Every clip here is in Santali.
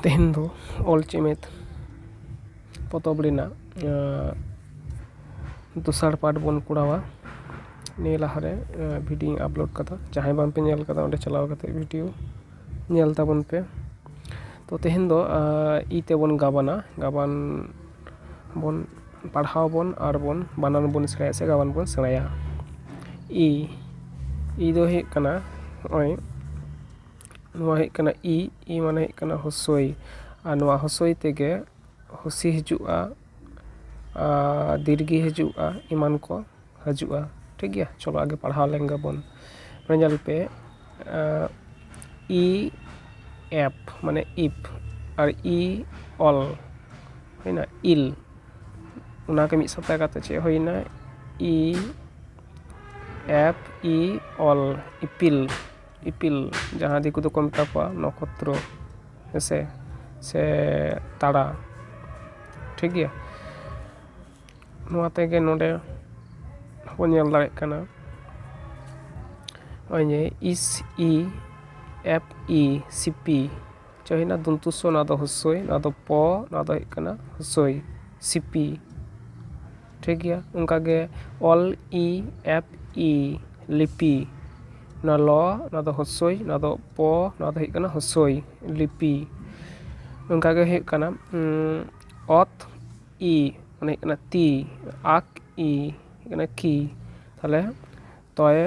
ᱛᱮᱦᱮᱧ ᱫᱚ ᱚᱞ ᱪᱮᱢᱮᱫ ᱯᱚᱛᱚᱵ ᱨᱮᱱᱟᱜ ᱫᱚᱥᱟᱨ ᱯᱟᱨᱴ ᱵᱚᱱ ᱠᱚᱨᱟᱣᱟ ᱱᱤᱭᱟᱹ ᱞᱟᱦᱟ ᱨᱮ ᱵᱷᱤᱰᱭᱳᱧ ᱟᱯᱞᱳᱰ ᱟᱠᱟᱫᱟ ᱡᱟᱦᱟᱸᱭ ᱵᱟᱝ ᱯᱮ ᱧᱮᱞ ᱟᱠᱟᱫᱟ ᱚᱸᱰᱮ ᱪᱟᱞᱟᱣ ᱠᱟᱛᱮᱫ ᱵᱷᱤᱰᱭᱳ ᱧᱮᱞ ᱛᱟᱵᱚᱱ ᱯᱮ ᱛᱚ ᱛᱮᱦᱮᱧ ᱫᱚ ᱤ ᱛᱮᱵᱚᱱ ᱜᱟᱵᱟᱱᱟ ᱜᱟᱵᱟᱱ ᱵᱚᱱ ᱯᱟᱲᱦᱟᱣ ᱟᱵᱚᱱ ᱟᱨ ᱵᱚᱱ ᱵᱟᱱᱟᱱ ᱵᱚᱱ ᱥᱮᱬᱟᱭᱟ ᱥᱮ ᱜᱟᱵᱟᱱ ᱵᱚᱱ ᱥᱮᱬᱟᱭᱟ ᱤ ᱤ ᱫᱚ ᱦᱩᱭᱩᱜ ᱠᱟᱱᱟ ᱱᱚᱜᱼᱚᱭ ᱱᱚᱣᱟ ᱦᱩᱭᱩᱜ ᱠᱟᱱᱟ ᱤ ᱤ ᱢᱟᱱᱮ ᱦᱩᱭᱩᱜ ᱠᱟᱱᱟ ᱦᱩᱥᱩᱭ ᱟᱨ ᱱᱚᱣᱟ ᱦᱩᱥᱩᱭ ᱛᱮᱜᱮ ᱦᱩᱥᱤ ᱦᱤᱡᱩᱜᱼᱟ ᱟᱨ ᱫᱤᱨᱜᱷᱤ ᱦᱤᱡᱩᱜᱼᱟ ᱮᱢᱟᱱ ᱠᱚ ᱦᱤᱡᱩᱜᱼᱟ ᱴᱷᱤᱠ ᱜᱮᱭᱟ ᱪᱚᱞᱚ ᱟᱜᱮ ᱯᱟᱲᱦᱟᱣ ᱞᱮᱱ ᱜᱮᱵᱚᱱ ᱱᱚᱣᱟ ᱧᱮᱞ ᱯᱮ ᱤ ᱮᱯᱷ ᱢᱟᱱᱮ ᱤᱯᱷ ᱟᱨ ᱤ ᱚᱞ ᱦᱩᱭᱱᱟ ᱤᱞ ᱚᱱᱟ ᱜᱮ ᱢᱤᱫ ᱥᱟᱶᱛᱮ ᱠᱟᱛᱮ ᱪᱮᱫ ᱦᱩᱭᱱᱟ ᱤ ᱮᱯᱷ ᱤ ᱚᱞ ᱤᱯᱤᱞ ᱤᱯᱤᱞ ᱡᱟᱦᱟᱸ ᱫᱤᱠᱩ ᱛᱮᱠᱚ ᱢᱮᱛᱟ ᱠᱚᱣᱟ ᱱᱚᱠᱷᱚᱛᱨᱚ ᱦᱮᱸᱥᱮ ᱥᱮ ᱛᱟᱨᱟ ᱴᱷᱤᱠ ᱜᱮᱭᱟ ᱱᱚᱣᱟ ᱛᱮᱜᱮ ᱱᱚᱰᱮ ᱵᱚᱱ ᱧᱮᱞ ᱫᱟᱲᱮᱭᱟᱜ ᱠᱟᱱᱟ ᱱᱚᱜᱼᱚᱭ ᱡᱮ ᱤᱥ ᱤ ᱮᱯᱷ ᱤ ᱥᱤ ᱯᱤ ᱪᱚ ᱦᱩᱭᱱᱟ ᱫᱚᱱᱛᱚ ᱥᱥᱚ ᱱᱚᱣᱟ ᱫᱚ ᱦᱚᱥᱥᱳᱭ ᱱᱚᱣᱟ ᱫᱚ ᱯᱚ ᱱᱚᱣᱟ ᱫᱚ ᱦᱩᱭᱩᱜ ᱠᱟᱱᱟ ᱦᱚᱥᱳᱭ ᱥᱤᱯᱤ ᱴᱷᱤᱠ ᱜᱮᱭᱟ ᱚᱱᱠᱟ ᱜᱮ ᱚᱞ ᱤ ᱮᱯᱷ ᱤ ᱞᱤᱯᱤ ᱱᱚᱣᱟ ᱞᱚ ᱱᱚᱣᱟ ᱫᱚ ᱦᱚᱥᱳᱭ ᱱᱚᱣᱟ ᱫᱚ ᱯᱚ ᱱᱚᱣᱟ ᱫᱚ ᱦᱩᱭᱩᱜ ᱠᱟᱱᱟ ᱦᱚᱥᱳᱭ ᱞᱤᱯᱤ ᱚᱱᱠᱟ ᱜᱮ ᱦᱩᱭᱩᱜ ᱠᱟᱱᱟ ᱚᱛ ᱤ ᱢᱟᱱᱮ ᱦᱩᱭᱩᱜ ᱠᱟᱱᱟ ᱛᱤ ᱟᱠ ᱤ ᱦᱩᱭᱩᱜ ᱠᱟᱱᱟ ᱠᱤ ᱛᱟᱦᱚᱞᱮ ᱛᱚᱭᱮ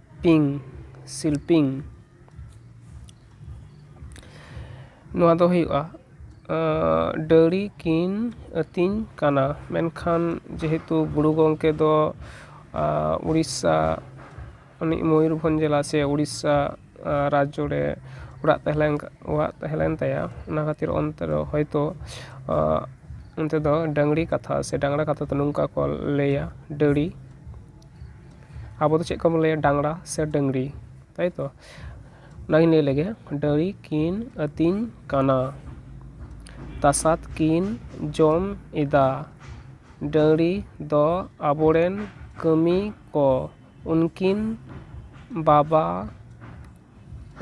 ᱯᱤᱝ ᱥᱤᱞᱯᱤᱝ ᱱᱚᱣᱟ ᱫᱚ ᱦᱩᱭᱩᱜᱼᱟ ᱰᱟᱹᱝᱨᱤ ᱠᱤᱱ ᱟᱹᱛᱤᱧ ᱠᱟᱱᱟ ᱢᱮᱱᱠᱷᱟᱱ ᱡᱮᱦᱮᱛᱩ ᱜᱩᱨᱩ ᱜᱚᱢᱠᱮ ᱫᱚ ᱳᱰᱤᱥᱟ ᱩᱱᱤ ᱢᱚᱭᱩᱨᱵᱷᱚᱸᱡᱽ ᱡᱮᱞᱟ ᱥᱮ ᱳᱰᱤᱥᱟ ᱨᱟᱡᱽᱡᱚ ᱨᱮ ᱚᱲᱟᱜ ᱛᱟᱦᱮᱸ ᱞᱮᱱ ᱚᱲᱟᱜ ᱛᱟᱦᱮᱸ ᱞᱮᱱ ᱛᱟᱭᱟ ᱚᱱᱟ ᱠᱷᱟᱹᱛᱤᱨ ᱚᱱᱛᱮ ᱨᱮ ᱦᱚᱭᱛᱳ ᱚᱱᱛᱮ ᱫᱚ ᱰᱟᱹᱝᱨᱤ ᱠᱟᱛᱷᱟ ᱥᱮ ᱰᱟᱝᱨᱟ ᱠᱟᱛᱷᱟ ᱛᱮ ᱱᱚᱝᱠᱟ ᱠᱚ ᱞᱟᱹᱭᱟ ᱰᱟᱹᱝᱨᱤ ᱟᱵᱚ ᱫᱚ ᱪᱮᱫ ᱠᱚᱵᱚᱱ ᱞᱟᱹᱭᱟ ᱰᱟᱝᱨᱟ ᱥᱮ ᱰᱟᱹᱝᱨᱤ ᱛᱟᱭ ᱛᱚ ᱚᱱᱟᱜᱤᱧ ᱞᱟᱹᱭ ᱞᱮᱜᱮ ᱰᱟᱹᱝᱨᱤ ᱠᱤᱱ ᱟᱹᱛᱤᱧ ᱠᱟᱱᱟ ᱛᱟᱥᱟᱫ ᱠᱤᱱ ᱡᱚᱢ ᱮᱫᱟ ᱰᱟᱹᱝᱨᱤ ᱫᱚ ᱟᱵᱚ ᱨᱮᱱ ᱠᱟᱹᱢᱤ ᱠᱚ ᱩᱱᱠᱤᱱ ᱵᱟᱵᱟ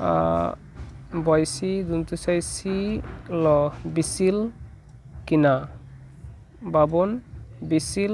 ᱟᱜ ᱵᱚᱭᱥᱤ ᱫᱚᱱᱛᱚ ᱥᱮ ᱥᱤ ᱞᱚ ᱵᱤᱥᱤᱞ ᱠᱤᱱᱟ ᱵᱟᱵᱚᱱ ᱵᱤᱥᱤᱞ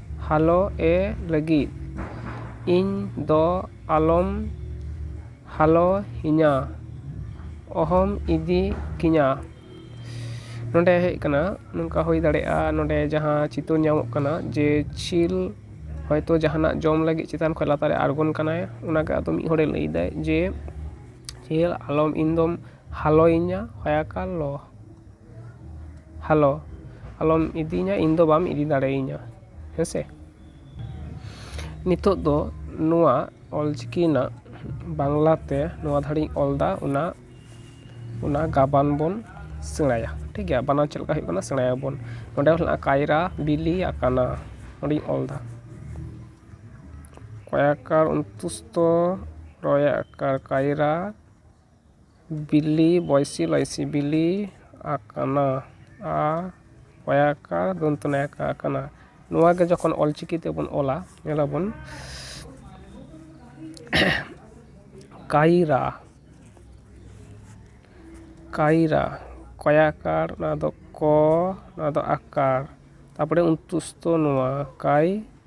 ᱦᱟᱞᱚ ᱮ ᱞᱟᱹᱜᱤᱫ ᱤᱧ ᱫᱚ ᱟᱞᱚᱢ ᱦᱟᱞᱚ ᱤᱧᱟ ᱚᱦᱚᱢ ᱤᱫᱤ ᱠᱤᱧᱟ ᱱᱚᱸᱰᱮ ᱦᱮᱡ ᱠᱟᱱᱟ ᱱᱚᱝᱠᱟ ᱦᱩᱭ ᱫᱟᱲᱮᱭᱟᱜᱼᱟ ᱱᱚᱸᱰᱮ ᱡᱟᱦᱟᱸ ᱪᱤᱛᱟᱹᱨ ᱧᱟᱢᱚᱜ ᱠᱟᱱᱟ ᱡᱮ ᱪᱤᱞ ᱦᱚᱭᱛᱚ ᱡᱟᱦᱟᱱᱟᱜ ᱡᱚᱢ ᱞᱟᱹᱜᱤᱫ ᱪᱮᱛᱟᱱ ᱠᱷᱚᱱ ᱞᱟᱛᱟᱨᱮ ᱟᱬᱜᱚᱱ ᱠᱟᱱᱟᱭ ᱚᱱᱟ ᱜᱮ ᱟᱫᱚ ᱢᱤᱫ ᱦᱚᱲᱮ ᱞᱟᱹᱭ ᱮᱫᱟᱭ ᱡᱮ ᱪᱤᱞ ᱟᱞᱚᱢ ᱤᱧ ᱫᱚᱢ ᱦᱟᱞᱚᱭᱤᱧᱟ ᱦᱚᱭᱟᱠᱟᱞ ᱞᱚᱦ ᱦᱮᱞᱳ ᱟᱞᱚᱢ ᱤᱫᱤᱧᱟ ᱤᱧ ᱫᱚ ᱵᱟᱢ ᱤᱫᱤ ᱫᱟᱲᱮᱭᱤᱧᱟ ᱦᱮᱸ ᱥᱮ ᱱᱤᱛᱚᱜ ᱫᱚ ᱱᱚᱣᱟ ᱚᱞ ᱪᱤᱠᱤ ᱨᱮᱱᱟᱜ ᱵᱟᱝᱞᱟ ᱛᱮ ᱱᱚᱣᱟ ᱫᱷᱟᱨᱮᱧ ᱚᱞ ᱮᱫᱟ ᱚᱱᱟ ᱚᱱᱟ ᱜᱟᱵᱟᱱ ᱵᱚᱱ ᱥᱮᱬᱟᱭᱟ ᱴᱷᱤᱠ ᱜᱮᱭᱟ ᱵᱟᱱᱟᱨ ᱪᱮᱫ ᱞᱮᱠᱟ ᱦᱩᱭᱩᱜ ᱠᱟᱱᱟ ᱥᱮᱬᱟᱭᱟᱵᱚᱱ ᱱᱚᱰᱮ ᱦᱚᱸ ᱦᱮᱱᱟᱜᱼᱟ ᱠᱟᱭᱨᱟ ᱵᱤᱞᱤ ᱟᱠᱟᱱᱟ ᱚᱸᱰᱮᱧ ᱚᱞ ᱮᱫᱟ ᱠᱚᱭᱟᱠᱟᱨ ᱚᱱᱛᱩᱥᱛᱷᱚ ᱨᱚᱭᱟᱠᱟᱨ ᱠᱟᱭᱨᱟ ᱵᱤᱞᱤ ᱵᱚᱭᱥᱤ ᱞᱟᱭᱥᱤ ᱵᱤᱞᱤ ᱟᱠᱟᱱᱟ ᱟ ᱚᱭᱟᱠᱟ ᱫᱚᱱᱛᱚ ᱱᱟᱭᱟᱠᱟ ᱟᱠᱟᱱᱟ ᱱᱚᱣᱟ ᱜᱮ ᱡᱚᱠᱷᱚᱱ ᱚᱞ ᱪᱤᱠᱤ ᱛᱮᱵᱚᱱ ᱚᱞᱟ ᱧᱮᱞ ᱟᱵᱚᱱ ᱠᱟᱭᱨᱟ ᱠᱟᱭᱨᱟ ᱠᱚᱭᱟᱠᱟᱨ ᱱᱚᱣᱟ ᱫᱚ ᱠᱚ ᱱᱚᱣᱟ ᱫᱚ ᱟᱠᱟᱨ ᱛᱟᱨᱯᱚᱨᱮ ᱩᱱᱛᱩᱥᱛᱩ ᱱᱚᱣᱟ ᱠᱟᱭ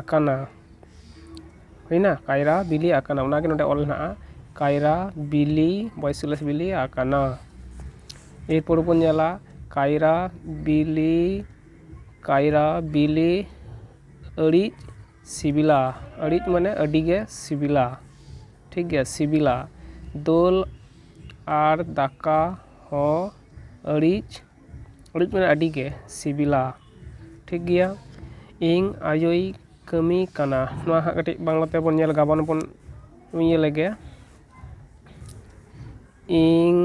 ᱟᱠᱟᱱᱟ ᱦᱩᱭᱱᱟ ᱠᱟᱭᱨᱟ ᱵᱤᱞᱤ ᱟᱠᱟᱱᱟ ᱚᱱᱟ ᱜᱮ ᱱᱚᱸᱰᱮ ᱚᱞ ᱦᱮᱱᱟᱜᱼᱟ ᱠᱟᱭᱨᱟ ᱵᱤᱞᱤ ᱵᱚᱭᱥᱤᱞᱮᱥ ᱵᱤᱞᱤ ᱟᱠᱟᱱᱟ ᱮᱨᱯᱚᱨ ᱵᱚᱱ ᱧᱮᱞᱟ ᱠᱟᱭᱨᱟ ᱵᱤᱞᱤ ᱠᱟᱭᱨᱟ ᱵᱤᱞᱤ ᱟᱹᱲᱤᱡ ᱥᱤᱵᱤᱞᱟ ᱟᱹᱲᱤᱡ ᱢᱟᱱᱮ ᱟᱹᱰᱤ ᱜᱮ ᱥᱤᱵᱤᱞᱟ ᱴᱷᱤᱠ ᱜᱮᱭᱟ ᱥᱤᱵᱤᱞᱟ ᱫᱟᱹᱞ ᱟᱨ ᱫᱟᱠᱟ ᱦᱚᱸ ᱟᱹᱲᱤᱡ ᱚᱲᱮᱡ ᱢᱟᱱᱮ ᱟᱹᱰᱤ ᱜᱮ ᱥᱤᱵᱤᱞᱟ ᱴᱷᱤᱠ ᱜᱮᱭᱟ ᱤᱧ ᱟᱭᱳᱭ ᱠᱟᱹᱢᱤ ᱠᱟᱱᱟ ᱱᱚᱣᱟ ᱦᱟᱸᱜ ᱠᱟᱹᱴᱤᱡ ᱵᱟᱝᱞᱟ ᱛᱮᱵᱚᱱ ᱧᱮᱞ ᱜᱟᱵᱟᱱ ᱵᱚᱱ ᱤᱭᱟᱹ ᱞᱮᱜᱮ ᱤᱧ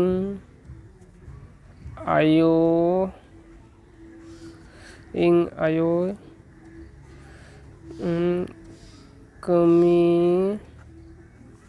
ᱟᱭᱳ ᱤᱧ ᱟᱭᱳ ᱠᱟᱹᱢᱤ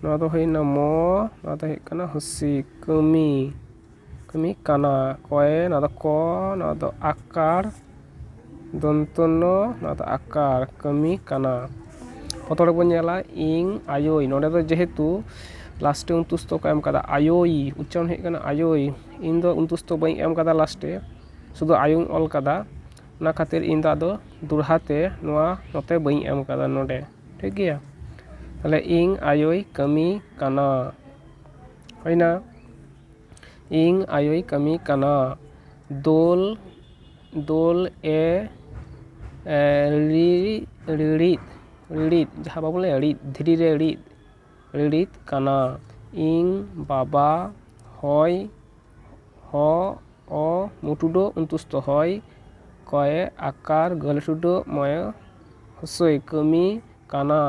ᱱᱚᱣᱟ ᱫᱚ ᱦᱩᱭᱱᱟ ᱢᱚ ᱱᱚᱣᱟ ᱫᱚ ᱦᱩᱭᱩᱜ ᱠᱟᱱᱟ ᱦᱩᱥᱤ ᱠᱟᱹᱢᱤ ᱠᱟᱹᱢᱤ ᱠᱟᱱᱟ ᱠᱚᱭᱮ ᱱᱚᱣᱟ ᱫᱚ ᱠᱚ ᱱᱚᱣᱟ ᱫᱚ ᱟᱠᱟᱲ ᱫᱚᱱᱛᱚ ᱱᱚ ᱱᱚᱣᱟ ᱫᱚ ᱟᱠᱟᱲ ᱠᱟᱹᱢᱤ ᱠᱟᱱᱟ ᱯᱨᱚᱛᱷᱚᱢ ᱨᱮᱵᱚᱱ ᱧᱮᱞᱟ ᱤᱝ ᱟᱭᱳᱭ ᱱᱚᱸᱰᱮ ᱫᱚ ᱡᱮᱦᱮᱛᱩ ᱞᱟᱥᱴᱮ ᱚᱱᱛᱩᱥᱛᱚ ᱠᱚ ᱮᱢ ᱠᱟᱫᱟ ᱟᱭᱳᱭ ᱩᱪᱪᱟᱨᱚᱱ ᱦᱩᱭᱩᱜ ᱠᱟᱱᱟ ᱟᱭᱳᱭ ᱤᱧ ᱫᱚ ᱚᱱᱛᱩᱥᱛᱚ ᱵᱟᱹᱧ ᱮᱢ ᱠᱟᱫᱟ ᱞᱟᱥᱴᱮ ᱥᱩᱫᱩ ᱟᱭᱳᱧ ᱚᱞ ᱠᱟᱫᱟ ᱚᱱᱟ ᱠᱷᱟᱹᱛᱤᱨ ᱤᱧ ᱫᱚ ᱟᱫᱚ ᱫᱚᱦᱲᱟ ᱛᱮ ᱱᱚᱣᱟ ᱱᱚᱛᱮ ᱵᱟᱹᱧ ᱮᱢ ᱠᱟᱫᱟ ᱱᱚᱸᱰᱮ ᱴᱷᱤᱠ ᱜᱮᱭᱟ ᱛᱟᱦᱚᱞᱮ ᱤᱧ ᱟᱭᱳᱭ ᱠᱟᱹᱢᱤ ᱠᱟᱱᱟ ᱦᱩᱭᱱᱟ ᱤᱧ ᱟᱭᱳᱭ ᱠᱟᱹᱢᱤ ᱠᱟᱱᱟ ᱫᱳᱞ ᱫᱳᱞ ᱮ ᱨᱤᱫ ᱨᱤᱲᱤᱫ ᱨᱤᱲᱤᱫ ᱡᱟᱦᱟᱸ ᱵᱟᱵᱚᱱ ᱞᱟᱹᱭᱟ ᱨᱤᱫ ᱫᱷᱤᱨᱤ ᱨᱮ ᱨᱤᱫ ᱨᱤᱲᱤᱫ ᱠᱟᱱᱟ ᱤᱧ ᱵᱟᱵᱟ ᱦᱚᱭ ᱦᱚ ᱚ ᱢᱩ ᱴᱩᱰᱟᱹᱜ ᱚᱱᱛᱩᱥᱛᱚ ᱦᱚᱭ ᱠᱚᱭ ᱟᱠᱟᱨ ᱜᱟᱹᱞ ᱴᱩᱰᱟᱹᱜ ᱢᱚᱭ ᱦᱚᱥᱳᱭ ᱠᱟᱹᱢᱤ ᱠᱟᱱᱟ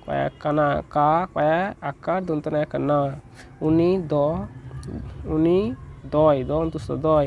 ᱠᱚᱭᱮ ᱠᱟᱱᱟ ᱠᱟ ᱠᱚᱭᱮ ᱟᱠᱟᱨ ᱫᱚᱱᱛᱮ ᱱᱚᱭᱮ ᱠᱟᱱᱟ ᱩᱱᱤ ᱫᱚ ᱩᱱᱤ ᱫᱚᱭ ᱫᱚ ᱚᱱᱛᱩᱥᱛᱚ ᱫᱚᱭ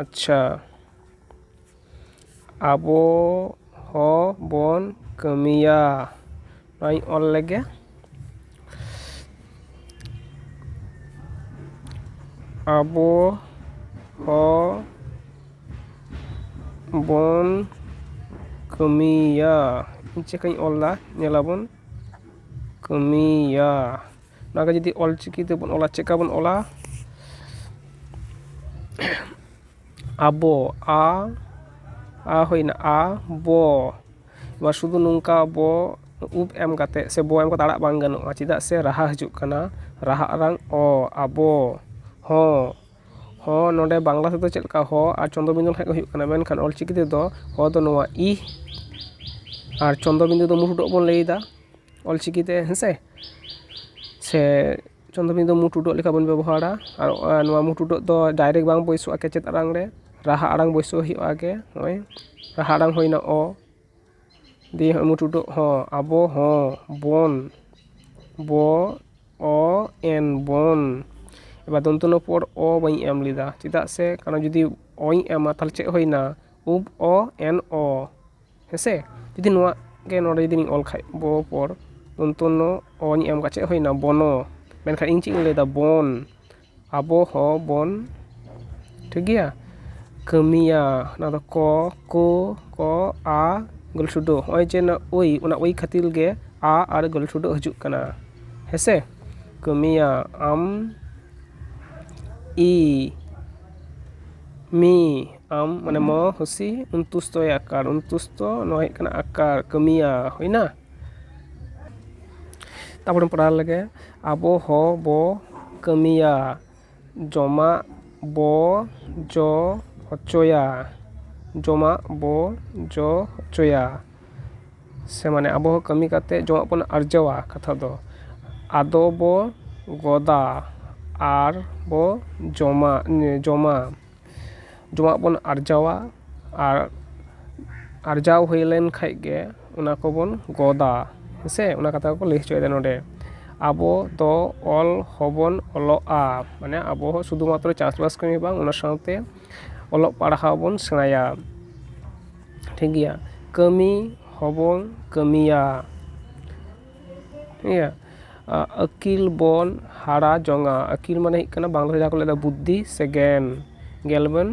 ᱟᱪᱪᱷᱟ ᱟᱵᱚ ᱦᱚᱸᱵᱚᱱ ᱠᱟᱹᱢᱤᱭᱟ ᱱᱚᱣᱟᱧ ᱚᱞ ᱞᱮᱜᱮ ᱟᱵᱚ ᱦᱚᱸᱵᱚᱱ ᱠᱟᱹᱢᱤᱭᱟ ᱪᱮᱫ ᱞᱮᱠᱟᱧ ᱚᱞᱫᱟ ᱧᱮᱞᱟᱵᱚᱱ ᱠᱟᱹᱢᱤᱭᱟ ᱚᱱᱟᱜᱮ ᱡᱩᱫᱤ ᱚᱞ ᱪᱤᱠᱤ ᱛᱮᱵᱚᱱ ᱚᱞᱟ ᱪᱮᱫᱠᱟ ᱵᱚᱱ ᱚᱞᱟ ᱟᱵᱚ ᱟ ᱟ ᱦᱩᱭᱱᱟ ᱟ ᱵᱚ ᱱᱚᱣᱟ ᱥᱩᱫᱷᱩ ᱱᱚᱝᱠᱟ ᱵᱚ ᱩᱵ ᱮᱢ ᱠᱟᱛᱮᱫ ᱥᱮ ᱵᱚ ᱮᱢ ᱠᱟᱛᱮᱫ ᱟᱲᱟᱜ ᱵᱟᱝ ᱜᱟᱱᱚᱜᱼᱟ ᱪᱮᱫᱟᱜ ᱥᱮ ᱨᱟᱦᱟ ᱦᱤᱡᱩᱜ ᱠᱟᱱᱟ ᱨᱟᱦᱟ ᱟᱲᱟᱝ ᱚ ᱟᱵᱚ ᱦᱚ ᱦᱚ ᱱᱚᱰᱮ ᱵᱟᱝᱞᱟ ᱛᱮᱫᱚ ᱪᱮᱫ ᱞᱮᱠᱟ ᱦᱚ ᱟᱨ ᱪᱚᱱᱫᱨᱚ ᱵᱤᱱᱫᱩ ᱞᱮᱠᱷᱟᱱ ᱜᱮ ᱦᱩᱭᱩᱜ ᱠᱟᱱᱟ ᱢᱮᱱᱠᱷᱟᱱ ᱚᱞ ᱪᱤᱠᱤ ᱛᱮᱫᱚ ᱦᱚ ᱫᱚ ᱱᱚᱣᱟ ᱤ ᱟᱨ ᱪᱚᱱᱫᱨᱚ ᱵᱤᱱᱫᱩ ᱫᱚ ᱢᱩᱸ ᱴᱩᱰᱟᱹᱜ ᱵᱚᱱ ᱞᱟᱹᱭᱫᱟ ᱚᱞ ᱪᱤᱠᱤ ᱛᱮ ᱦᱮᱸ ᱥᱮ ᱥᱮ ᱪᱚᱱᱫᱨᱚ ᱵᱤᱱᱫᱩ ᱢᱩ ᱴᱩᱰᱟᱹᱜ ᱞᱮᱠᱟ ᱵᱚᱱ ᱵᱮᱵᱚᱦᱟᱨᱟ ᱟᱨ ᱱᱚᱣᱟ ᱢᱩ ᱴᱩᱰᱟᱹᱜ ᱫᱚ ᱰᱟᱭᱨᱮᱠᱴ ᱵᱟᱝ ᱵᱟᱹᱭᱥᱟᱹᱜᱼᱟ ᱠᱮᱪᱮᱫ ᱟᱲᱟᱝ ᱨᱮ ᱨᱟᱦᱟ ᱟᱲᱟᱝ ᱵᱟᱹᱭᱥᱟᱹᱣ ᱦᱩᱭᱩᱜᱼᱟ ᱟᱜᱮ ᱦᱚᱸᱜᱼᱚᱭ ᱨᱟᱦᱟ ᱟᱲᱟᱝ ᱦᱩᱭᱱᱟ ᱚ ᱫᱤᱭᱮ ᱦᱚᱸᱜᱼᱚᱭ ᱢᱩ ᱴᱩᱰᱟᱹᱜ ᱦᱚ ᱟᱵᱚ ᱦᱚ ᱵᱚᱱ ᱵᱚ ᱚ ᱮᱱ ᱵᱚᱱ ᱮᱵᱟᱨ ᱫᱚᱱᱛᱚ ᱱᱚ ᱯᱚᱨ ᱚ ᱵᱟᱹᱧ ᱮᱢ ᱞᱮᱫᱟ ᱪᱮᱫᱟᱜ ᱥᱮ ᱠᱟᱨᱚᱱ ᱡᱩᱫᱤ ᱚᱧ ᱮᱢᱟ ᱛᱟᱦᱚᱞᱮ ᱪᱮᱫ ᱦᱩᱭᱱᱟ ᱩᱯ ᱚ ᱮᱱ ᱚ ᱦᱮᱸᱥᱮ ᱡᱩᱫᱤ ᱱᱚᱣᱟ ᱜᱮ ᱱᱚᱰᱮ ᱡᱩᱫᱤᱧ ᱚᱞ ᱠᱷᱟᱱ ᱵᱚ ᱯᱚᱨ ᱫᱚᱱᱛᱚ ᱱᱚ ᱚ ᱤᱧ ᱮᱢ ᱠᱟᱜᱼᱟ ᱪᱮᱫ ᱦᱩᱭᱱᱟ ᱵᱚᱱᱚ ᱢᱮᱱᱠᱷᱟᱱ ᱤᱧ ᱪᱮᱫ ᱤᱧ ᱞᱟᱹᱭᱫᱟ ᱵᱚᱱ ᱟᱵᱚ ᱦᱚᱸ ᱵᱚᱱ ᱴᱷᱤᱠ ᱜᱮᱭᱟ ᱠᱟᱹᱢᱤᱭᱟ ᱚᱱᱟ ᱫᱚ ᱠᱚ ᱠᱳ ᱠᱚ ᱟ ᱜᱩᱞ ᱴᱷᱩᱰᱩ ᱱᱚᱜᱼᱚᱭ ᱡᱮ ᱱᱚᱣᱟ ᱳᱭ ᱚᱱᱟ ᱳᱭ ᱠᱷᱟᱹᱛᱤᱨ ᱜᱮ ᱟ ᱟᱨ ᱜᱩᱞ ᱴᱷᱩᱰᱩ ᱦᱤᱡᱩᱜ ᱠᱟᱱᱟ ᱦᱮᱸᱥᱮ ᱠᱟᱹᱢᱤᱭᱟ ᱟᱢ ᱤ ᱢᱤ ᱟᱢ ᱢᱟᱱᱮ ᱢᱚ ᱦᱩᱥᱤ ᱩᱱᱛᱩᱥᱛᱚᱭ ᱟᱠᱟᱨ ᱩᱱᱛᱩᱥᱛᱚ ᱱᱚᱣᱟ ᱦᱩᱭᱩᱜ ᱠᱟᱱᱟ ᱟᱠᱟᱨ ᱠᱟᱹᱢᱤᱭᱟ ᱦᱩᱭᱱᱟ ᱛᱟᱯᱚᱨᱮ ᱯᱟᱲᱦᱟᱣ ᱞᱮᱜᱮ ᱟᱵᱚ ᱦᱚ ᱵᱚ ᱠᱟᱹᱢᱤᱭᱟ ᱡᱚᱢᱟᱜ ᱵᱚ ᱡᱚ ᱦᱚᱪᱚᱭᱟ ᱡᱚᱢᱟᱜ ᱵᱚ ᱡᱚ ᱦᱚᱪᱚᱭᱟ ᱥᱮ ᱢᱟᱱᱮ ᱟᱵᱚ ᱦᱚᱸ ᱠᱟᱹᱢᱤ ᱠᱟᱛᱮ ᱡᱚᱢᱟᱜ ᱵᱚᱱ ᱟᱨᱡᱟᱣᱟ ᱠᱟᱛᱷᱟ ᱫᱚ ᱟᱫᱚ ᱵᱚ ᱜᱚᱫᱟ ᱟᱨ ᱵᱚ ᱡᱚᱢᱟ ᱡᱚᱢᱟ ᱡᱚᱢᱟᱜ ᱵᱚᱱ ᱟᱨᱡᱟᱣᱟ ᱟᱨ ᱟᱨᱡᱟᱣ ᱦᱩᱭ ᱞᱮᱱ ᱠᱷᱟᱱ ᱜᱮ ᱚᱱᱟ ᱠᱚᱵᱚᱱ ᱜᱚᱫᱟ ᱦᱮᱸᱥᱮ ᱚᱱᱟ ᱠᱟᱛᱷᱟ ᱜᱮᱠᱚ ᱞᱟᱹᱭ ᱦᱚᱪᱚᱭᱮᱫᱟ ᱱᱚᱸᱰᱮ ᱟᱵᱚ ᱫᱚ ᱚᱞ ᱦᱚᱸᱵᱚᱱ ᱚᱞᱚᱜᱼᱟ ᱢᱟᱱᱮ ᱟᱵᱚ ᱦᱚᱸ ᱥᱩᱫᱷᱩ ᱢᱟᱛᱨᱚ ᱪᱟᱥᱵᱟᱥ ᱠᱟᱹᱢᱤ ᱫᱚ ᱵᱟᱝ ᱚᱱᱟ ᱥᱟᱶᱛᱮ ᱚᱞᱚᱜ ᱯᱟᱲᱦᱟᱣ ᱵᱚᱱ ᱥᱮᱬᱟᱭᱟ ᱴᱷᱤᱠ ᱜᱮᱭᱟ ᱠᱟᱹᱢᱤ ᱦᱚᱸᱵᱚᱱ ᱠᱟᱹᱢᱤᱭᱟ ᱤᱭᱟᱹ ᱟᱹᱠᱤᱞ ᱵᱚᱱ ᱦᱟᱨᱟ ᱡᱚᱝᱟ ᱟᱹᱠᱤᱞ ᱢᱟᱱᱮ ᱦᱩᱭᱩᱜ ᱠᱟᱱᱟ ᱵᱟᱝᱞᱟ ᱛᱮ ᱡᱟᱦᱟᱸ ᱠᱚ ᱞᱟᱹᱭᱫᱟ ᱵᱩᱫᱽᱫᱷᱤ ᱥᱮ ᱜᱮᱭᱟᱱ ᱜᱮᱭᱟᱱ ᱵᱚᱱ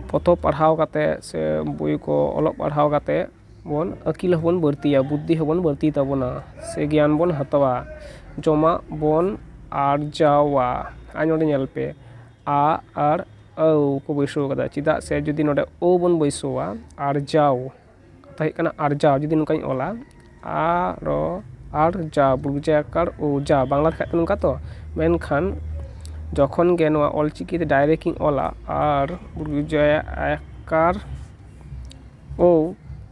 ᱯᱚᱛᱚᱵ ᱯᱟᱲᱦᱟᱣ ᱠᱟᱛᱮ ᱥᱮ ᱵᱳᱭ ᱠᱚ ᱚᱞᱚᱜ ᱯᱟᱲᱦᱟᱣ ᱠᱟᱛᱮ ᱵᱚᱱ ᱟᱹᱠᱤᱞ ᱦᱚᱸ ᱵᱚᱱ ᱵᱟᱹᱲᱛᱤᱭᱟ ᱵᱩᱫᱽᱫᱷᱤ ᱦᱚᱸ ᱵᱚᱱ ᱵᱟᱹᱲᱛᱤᱭ ᱛᱟᱵᱚᱱᱟ ᱥᱮ ᱜᱮᱭᱟᱱ ᱵᱚᱱ ᱦᱟᱛᱟᱣᱟ ᱡᱚᱢᱟᱜ ᱵᱚᱱ ᱟᱨᱡᱟᱣᱟ ᱟᱨ ᱱᱚᱰᱮ ᱧᱮᱞ ᱯᱮ ᱟ ᱟᱨ ᱟᱹᱣ ᱠᱚ ᱵᱟᱹᱭᱥᱟᱹᱣ ᱠᱟᱫᱟ ᱪᱮᱫᱟᱜ ᱥᱮ ᱡᱩᱫᱤ ᱱᱚᱰᱮ ᱳ ᱵᱚᱱ ᱵᱟᱹᱭᱥᱟᱹᱣᱟ ᱟᱨᱡᱟᱣ ᱠᱟᱛᱷᱟ ᱦᱩᱭᱩᱜ ᱠᱟᱱᱟ ᱟᱨᱡᱟᱣ ᱡᱩᱫᱤ ᱱᱚᱝᱠᱟᱧ ᱚᱞᱟ ᱟ ᱨ ᱟᱨ ᱡᱟ ᱵᱩᱡᱟ ᱠᱟᱨ ᱩ ᱡᱟ ᱵᱟᱝᱞᱟ ᱛᱮᱠᱷᱟᱡ ᱫᱚ ᱱᱚᱝᱠᱟ ᱛᱚ ᱢᱮᱱᱠᱷᱟᱱ ᱡᱚᱠᱷᱚᱱ ᱜᱮ ᱱᱚᱣᱟ ᱚᱞ ᱪᱤᱠᱤ ᱛᱮ ᱰᱟᱭᱨᱮᱠᱴ ᱤᱧ ᱚᱞᱟ ᱟᱨ ᱵᱩᱡᱟ ᱠᱟᱨ ᱳ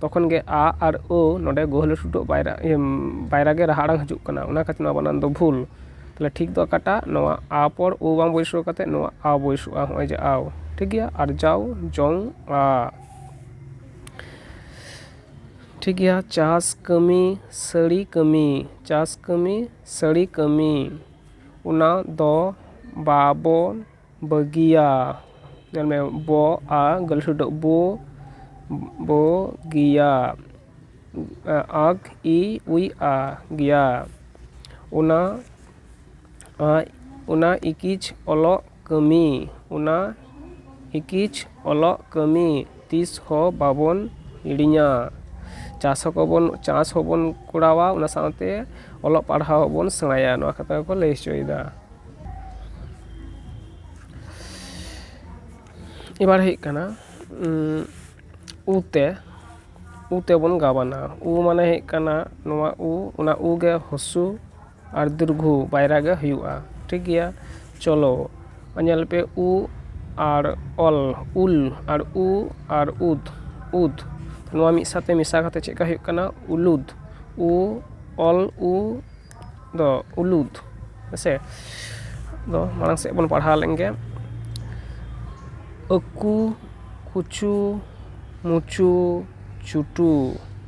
ᱛᱚᱠᱷᱚᱱ ᱜᱮ ᱟ ᱟᱨ ᱳ ᱱᱚᱰᱮ ᱜᱩᱦᱞᱟᱹ ᱴᱩᱰᱩ ᱟᱜ ᱵᱟᱭᱨᱟ ᱤᱭᱟᱹ ᱵᱟᱭᱨᱟ ᱜᱮ ᱨᱟᱦᱟ ᱟᱲᱟᱝ ᱦᱤᱡᱩᱜ ᱠᱟᱱᱟ ᱚᱱᱟ ᱠᱷᱟᱹᱛᱤᱨ ᱱᱚᱣᱟ ᱵᱟᱱᱟᱱ ᱫᱚ ᱵᱷᱩᱞ ᱛᱟᱦᱚᱞᱮ ᱴᱷᱤᱠ ᱫᱚ ᱚᱠᱟᱴᱟᱜ ᱱᱚᱣᱟ ᱟ ᱯᱚᱨ ᱳ ᱵᱟᱝ ᱵᱟᱹᱭᱥᱟᱹᱣ ᱠᱟᱛᱮ ᱱᱚᱣᱟ ᱟ ᱵᱟᱹᱭᱥᱟᱹᱜᱼᱟ ᱱᱚᱜᱼᱚᱭ ᱡᱮ ᱟᱣ ᱴᱷᱤᱠ ᱜᱮᱭᱟ ᱟᱨᱡᱟᱣ ᱡᱚᱝᱼᱟ ᱴᱷᱤᱠ ᱜᱮᱭᱟ ᱪᱟᱥ ᱠᱟᱹᱢᱤ ᱥᱟᱹᱲᱤ ᱠᱟᱹᱢᱤ ᱪᱟᱥ ᱠᱟᱹᱢᱤ ᱥᱟᱹᱲᱤ ᱠᱟᱹᱢᱤ ᱚᱱᱟ ᱫᱚ ᱵᱟᱵᱚ ᱵᱟᱹᱜᱤᱭᱟ ᱧᱮᱞ ᱢᱮ ᱵᱚ ᱟ ᱵᱚ ᱵᱚ ᱜᱤᱭᱟ ᱟᱜᱽ ᱤ ᱩᱭ ᱟ ᱜᱮᱭᱟ ᱚᱱᱟ ᱟᱡ ᱚᱱᱟ ᱤᱠᱤᱪᱷ ᱚᱞᱚᱜ ᱠᱟᱹᱢᱤ ᱚᱱᱟ ᱮᱠᱤᱡ ᱚᱞᱚᱜ ᱠᱟᱹᱢᱤ ᱛᱤᱥ ᱦᱚᱸ ᱵᱟᱵᱚᱱ ᱦᱤᱲᱤᱧᱟ ᱪᱟᱥ ᱦᱚᱸ ᱵᱟᱵᱚᱱ ᱪᱟᱥ ᱦᱚᱸ ᱵᱚᱱ ᱠᱚᱨᱟᱣᱟ ᱚᱱᱟ ᱥᱟᱶᱛᱮ ᱚᱞᱚᱜ ᱯᱟᱲᱦᱟᱣ ᱦᱚᱸ ᱵᱚᱱ ᱥᱮᱬᱟᱭᱟ ᱱᱚᱣᱟ ᱠᱟᱛᱷᱟ ᱜᱮᱠᱚ ᱞᱟᱹᱭ ᱦᱚᱪᱚᱭᱮᱫᱟ ᱮᱵᱟᱨ ᱦᱩᱭᱩᱜ ᱠᱟᱱᱟ ᱩ ᱛᱮ ᱩ ᱛᱮᱵᱚᱱ ᱜᱟᱵᱟᱱᱟ ᱩ ᱢᱟᱱᱮ ᱦᱩᱭᱩᱜ ᱠᱟᱱᱟ ᱱᱚᱣᱟ ᱩ ᱚᱱᱟ ᱩ ᱜᱮ ᱦᱚᱥᱩ ᱟᱨ ᱫᱤᱨᱜᱷᱩ ᱵᱟᱭᱨᱟ ᱜᱮ ᱦᱩᱭᱩᱜᱼᱟ ᱴᱷᱤᱠ ᱜᱮᱭᱟ ᱪᱚᱞᱚ ᱧᱮᱞ ᱯᱮ ᱩ ᱟᱨ ᱚᱞ ᱩᱞ ᱟᱨ ᱩ ᱟᱨ ᱩᱫ ᱩᱫ ᱱᱚᱣᱟ ᱢᱤᱫ ᱥᱟᱶᱛᱮ ᱢᱮᱥᱟ ᱠᱟᱛᱮᱫ ᱪᱮᱫ ᱞᱮᱠᱟ ᱦᱩᱭᱩᱜ ᱠᱟᱱᱟ ᱩᱞᱩᱫ ᱩ ᱚᱞ ᱩ ᱫᱚ ᱩᱞᱩᱫ ᱦᱮᱸ ᱥᱮ ᱟᱫᱚ ᱢᱟᱲᱟᱝ ᱥᱮᱫ ᱵᱚᱱ ᱯᱟᱲᱦᱟᱣ ᱞᱮᱱ ᱜᱮ ᱟᱹᱠᱩ ᱠᱩᱪᱩ ᱢᱩᱪᱩ ᱪᱩᱴᱩ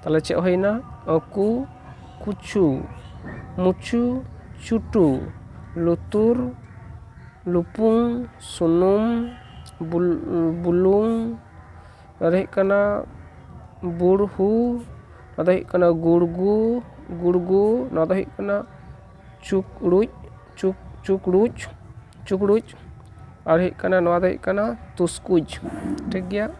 ᱛᱟᱦᱚᱞᱮ ᱪᱮᱫ ᱦᱩᱭᱱᱟ ᱠᱩ ᱠᱩᱪᱩ ᱢᱩᱪᱩ ᱪᱩᱴᱩ ᱞᱩᱛᱩᱨ ᱞᱩᱯᱩᱝ ᱥᱩᱱᱩᱢ ᱵᱩᱞ ᱵᱩᱞᱩᱝ ᱱᱚᱣᱟ ᱫᱚ ᱦᱩᱭᱩᱜ ᱠᱟᱱᱟ ᱵᱩᱲᱦᱩ ᱱᱚᱣᱟ ᱫᱚ ᱦᱩᱭᱩᱜ ᱠᱟᱱᱟ ᱜᱩᱲᱜᱩ ᱜᱩᱲᱜᱩ ᱱᱚᱣᱟ ᱫᱚ ᱦᱩᱭᱩᱜ ᱠᱟᱱᱟ ᱪᱩᱠᱲᱩᱡ ᱪᱩᱠ ᱪᱩᱠᱲᱩᱡ ᱪᱩᱠᱲᱩᱡ ᱟᱨ ᱦᱩᱭᱩᱜ ᱠᱟᱱᱟ ᱱᱚᱣᱟ ᱫᱚ ᱦᱩᱭᱩᱜ ᱠᱟᱱᱟ ᱛᱩᱥᱠᱩᱡ ᱴᱷᱤᱠ ᱜᱮᱭᱟ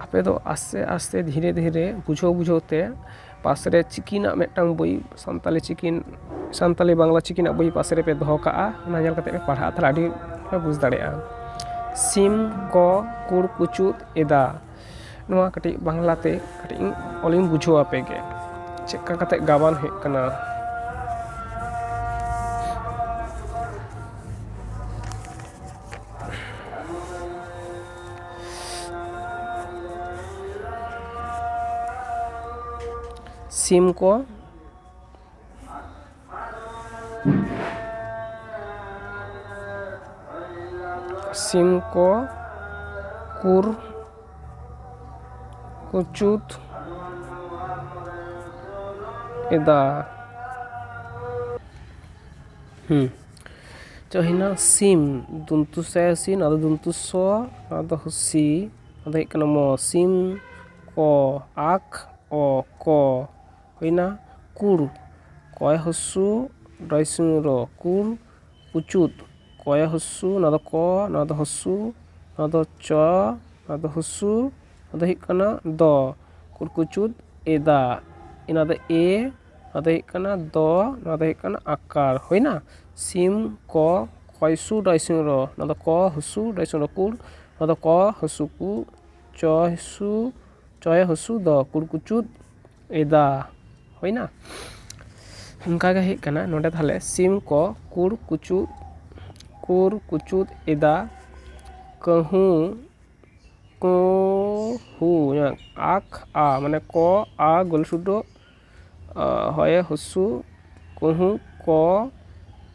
ᱟᱯᱮ ᱫᱚ ᱟᱥᱛᱮ ᱟᱥᱛᱮ ᱫᱷᱤᱨᱮ ᱫᱷᱤᱨᱮ ᱵᱩᱡᱷᱟᱹᱣ ᱵᱩᱡᱷᱟᱹᱣ ᱛᱮ ᱯᱟᱥ ᱨᱮ ᱪᱤᱠᱤ ᱨᱮᱱᱟᱜ ᱢᱤᱫᱴᱟᱝ ᱵᱳᱭ ᱥᱟᱱᱛᱟᱞᱤ ᱪᱤᱠᱤ ᱥᱟᱱᱛᱟᱞᱤ ᱵᱟᱝᱞᱟ ᱪᱤᱠᱤ ᱨᱮᱱᱟᱜ ᱵᱳᱭ ᱯᱟᱥᱮ ᱨᱮᱯᱮ ᱫᱚᱦᱚ ᱠᱟᱜᱼᱟ ᱚᱱᱟ ᱧᱮᱞ ᱠᱟᱛᱮ ᱯᱮ ᱯᱟᱲᱦᱟᱜᱼᱟ ᱛᱟᱦᱚᱞᱮ ᱟᱹᱰᱤ ᱯᱮ ᱵᱩᱡᱽ ᱫᱟᱲᱮᱭᱟᱜᱼᱟ ᱥᱤᱢ ᱠᱚ ᱠᱩᱲ ᱠᱩᱪᱩᱫ ᱮᱫᱟ ᱱᱚᱣᱟ ᱠᱟᱹᱴᱤᱡ ᱵᱟᱝᱞᱟ ᱛᱮ ᱠᱟᱹᱴᱤᱡ ᱤᱧ ᱚᱞ ᱤᱧ ᱵᱩᱡᱷᱟᱹᱣ ᱟᱯᱮ ᱜᱮ ᱪᱮᱫ ᱞᱮᱠᱟ ᱠᱟᱛᱮ ᱜᱟᱵᱟᱱ ᱦᱩᱭᱩᱜ ᱠᱟᱱᱟ ᱥᱤᱢ ᱠᱚ ᱥᱤᱢ ᱠᱚ ᱠᱩᱨ ᱠᱩᱪᱩᱫ ᱮᱫᱟ ᱦᱩᱸ ᱪᱚ ᱦᱮᱱᱟᱜ ᱥᱤᱢ ᱫᱩᱱᱛᱩ ᱥᱮ ᱥᱤᱱ ᱟᱫᱚ ᱫᱩᱱᱛᱩ ᱥᱚ ᱟᱫᱚ ᱦᱩᱥᱤ ᱟᱫᱚ ᱦᱩᱭᱩᱜ ᱠᱟᱱᱟ ᱢᱚ ᱥᱤᱢ ᱠᱚ ᱟᱠ ᱚ ᱠᱚ ᱦᱩᱭᱱᱟ ᱠᱩᱲ ᱠᱚᱭ ᱦᱚᱥᱥᱚ ᱰᱚᱭ ᱥᱤᱝᱦᱚ ᱨᱚ ᱠᱩᱲ ᱩᱪᱩᱫ ᱠᱚᱭᱮ ᱦᱚᱥᱥᱚ ᱱᱚᱣᱟ ᱫᱚ ᱠᱚ ᱱᱚᱣᱟ ᱫᱚ ᱦᱚᱥᱥᱚ ᱱᱚᱣᱟ ᱫᱚ ᱪᱚ ᱱᱚᱣᱟ ᱫᱚ ᱦᱚᱥᱥᱚ ᱱᱚᱣᱟ ᱫᱚ ᱦᱩᱭᱩᱜ ᱠᱟᱱᱟ ᱫᱚ ᱠᱩᱲᱠᱩᱪᱩᱫ ᱮᱫᱟ ᱱᱚᱣᱟ ᱫᱚ ᱮ ᱱᱚᱣᱟ ᱫᱚ ᱦᱩᱭᱩᱜ ᱠᱟᱱᱟ ᱫᱚ ᱱᱚᱣᱟ ᱫᱚ ᱦᱩᱭᱩᱜ ᱠᱟᱱᱟ ᱟᱠᱟᱨ ᱦᱩᱭᱱᱟ ᱥᱤᱢ ᱠᱚ ᱠᱚᱭ ᱥᱩ ᱰᱚᱭ ᱥᱤᱝᱦᱚ ᱨᱚ ᱱᱚᱣᱟ ᱫᱚ ᱠᱚ ᱦᱚᱥᱥᱚ ᱰᱚᱭ ᱥᱤᱝᱦᱚ ᱨᱚ ᱠᱩᱲ ᱱᱚᱣᱟ ᱫᱚ ᱠᱚ ᱦᱚᱥᱥᱚ ᱠᱩ ᱪᱚᱭ ᱦᱚᱥᱥᱚ ᱪᱚᱭᱮ ᱦᱚᱥᱥᱚ ᱫᱚ ᱠᱩᱲᱠᱩᱪᱩᱫ ᱮᱫᱟ ᱦᱩᱭ ᱮᱱᱟ ᱚᱱᱠᱟ ᱜᱮ ᱦᱩᱭᱩᱜ ᱠᱟᱱᱟ ᱱᱚᱸᱰᱮ ᱛᱟᱦᱚᱞᱮ ᱥᱤᱢ ᱠᱚ ᱠᱩᱲ ᱠᱩᱪᱩ ᱠᱩᱲ ᱠᱩᱪᱩᱫ ᱮᱫᱟ ᱠᱟᱹᱦᱩ ᱠᱚᱸ ᱦᱩ ᱟᱠ ᱟ ᱢᱟᱱᱮ ᱠᱚ ᱟ ᱜᱩᱞᱥᱩᱰᱳ ᱦᱚᱭᱮ ᱦᱩᱥᱩ ᱠᱩᱦᱩ ᱠᱚ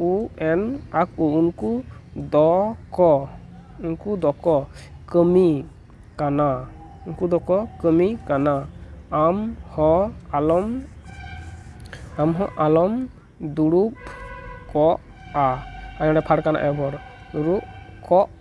ᱤᱭᱩ ᱮᱱ ᱟᱠᱚ ᱩᱱᱠᱩ ᱫᱚ ᱠᱚ ᱩᱱᱠᱩ ᱫᱚ ᱠᱚ ᱠᱟᱹᱢᱤ ᱠᱟᱱᱟ ᱩᱱᱠᱩ ᱫᱚ ᱠᱚ ᱠᱟᱹᱢᱤ ᱠᱟᱱᱟ ᱟᱢ ᱦᱚᱸ ᱟᱞᱚᱢ ᱟᱢ ᱦᱚᱸ ᱟᱞᱚᱢ ᱫᱩᱲᱩᱵ ᱠᱚᱜᱼᱟ ᱟᱨ ᱱᱚᱸᱰᱮ ᱯᱷᱟᱰᱜᱟᱱ ᱟᱭᱳ ᱦᱚᱲ ᱫᱩᱲᱩᱵ ᱠᱚᱜ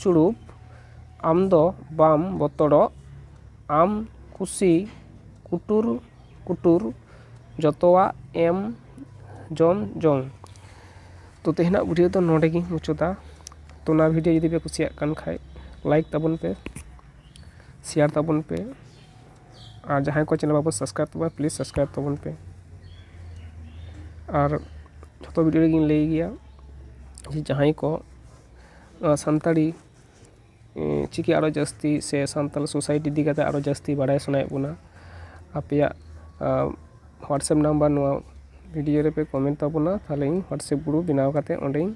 ᱪᱩᱲᱩᱯ ᱟᱢ ᱫᱚ ᱵᱟᱢ ᱵᱚᱛᱚᱨᱚᱜ ᱟᱢ ᱠᱩᱥᱤ ᱠᱩᱴᱩᱨ ᱠᱩᱴᱩᱨ ᱡᱚᱛᱚᱣᱟᱜ ᱮᱢ ᱡᱚᱢ ᱡᱚᱝ ᱛᱚ ᱛᱮᱦᱮᱧᱟᱜ ᱵᱷᱤᱰᱭᱳ ᱫᱚ ᱱᱚᱰᱮ ᱜᱤᱧ ᱢᱩᱪᱟᱹᱫᱟ ᱛᱚ ᱱᱚᱣᱟ ᱵᱷᱤᱰᱭᱳ ᱡᱩᱫᱤ ᱯᱮ ᱠᱩᱥᱤᱭᱟᱜ ᱠᱟᱱ ᱠᱷᱟᱡ ᱞᱟᱭᱤᱠ ᱛᱟᱵᱚᱱ ᱯᱮ ᱥᱮᱭᱟᱨ ᱛᱟᱵᱚᱱ ᱯᱮ ᱟᱨ ᱡᱟᱦᱟᱸᱭ ᱠᱚ ᱪᱮᱱᱮᱞ ᱵᱟᱠᱚ ᱥᱟᱵᱥᱠᱨᱟᱭᱤᱵᱽ ᱛᱟᱵᱚᱱᱟ ᱯᱞᱤᱡᱽ ᱥᱟᱵᱥᱠᱨᱟᱭᱤᱵᱽ ᱛᱟᱵᱚᱱ ᱯᱮ ᱟᱨ ᱡᱷᱚᱛᱚ ᱵᱷᱤᱰᱭᱳ ᱨᱮᱜᱤᱧ ᱞᱟᱹᱭ ᱜᱮᱭᱟ ᱡᱟᱦᱟᱸᱭ ᱠᱚ ᱱᱚᱣᱟ ᱥᱟᱱᱛᱟᱲᱤ ᱪᱤᱠᱤ ᱟᱨᱚ ᱡᱟᱹᱥᱛᱤ ᱥᱮ ᱥᱟᱱᱛᱟᱲ ᱥᱳᱥᱟᱭᱤᱴᱤ ᱤᱫᱤ ᱠᱟᱛᱮ ᱟᱨᱚ ᱡᱟᱹᱥᱛᱤ ᱵᱟᱲᱟᱭ ᱥᱟᱱᱟᱭᱮᱫ ᱵᱚᱱᱟ ᱟᱯᱮᱭᱟᱜ ᱦᱳᱣᱟᱴᱥᱮᱯ ᱱᱟᱢᱵᱟᱨ ᱱᱚᱣᱟ ᱵᱷᱤᱰᱤᱭᱳ ᱨᱮᱯᱮ ᱠᱚᱢᱮᱱᱴ ᱛᱟᱵᱚᱱᱟ ᱛᱟᱦᱚᱞᱮ ᱤᱧ ᱦᱳᱣᱟᱴᱥᱮᱯ ᱜᱨᱩᱯ ᱵᱮᱱᱟᱣ ᱠᱟᱛᱮ ᱚᱸᱰᱮᱧ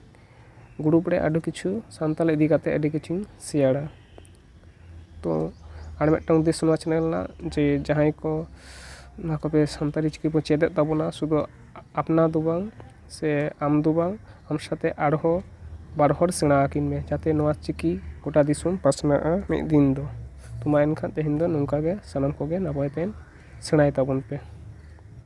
ᱜᱨᱩᱯ ᱨᱮ ᱟᱹᱰᱤ ᱠᱤᱪᱷᱩ ᱥᱟᱱᱛᱟᱲ ᱤᱫᱤ ᱠᱟᱛᱮ ᱟᱹᱰᱤ ᱠᱤᱪᱷᱩᱧ ᱥᱮᱭᱟᱨᱟ ᱛᱚ ᱟᱨ ᱢᱤᱫᱴᱟᱝ ᱩᱫᱽᱫᱮᱥᱥᱚ ᱱᱚᱣᱟ ᱪᱮᱱᱮᱞ ᱨᱮᱱᱟᱜ ᱡᱮ ᱡᱟᱦᱟᱸᱭ ᱠᱚ ᱱᱚᱣᱟ ᱠᱚᱛᱮ ᱥᱟᱱᱛᱟᱲᱤ ᱪᱤᱠᱤ ᱵᱚᱱ ᱪᱮᱫ ᱮᱫ ᱛᱟᱵᱚᱱᱟ ᱥᱩᱫᱩ ᱟᱯᱱᱟᱨ ᱫᱚ ᱵᱟᱝ ᱥᱮ ᱟᱢ ᱫᱚ ᱵᱟᱝ ᱟᱢ ᱥᱟᱛᱮᱜ ᱟᱨᱦᱚᱸ ᱵᱟᱨ ᱦᱚᱲ ᱥᱮᱬᱟ ᱟᱹᱠᱤᱱ ᱢᱮ ᱡᱟᱛᱮ ᱱᱚᱣᱟ ᱪᱤᱠᱤ ᱜᱚᱴᱟ ᱫᱤᱥᱚᱢ ᱯᱟᱥᱱᱟᱜᱼᱟ ᱢᱤᱫ ᱫᱤᱱ ᱫᱚ ᱛᱚ ᱢᱟ ᱮᱱᱠᱷᱟᱱ ᱛᱮᱦᱮᱧ ᱫᱚ ᱱᱚᱝᱠᱟ ᱜᱮ ᱥᱟᱱᱟᱢ ᱠᱚᱜᱮ ᱱᱟᱯᱟᱭ ᱛᱮ ᱥᱮᱬᱟᱭ ᱛᱟᱵᱚᱱ ᱯᱮ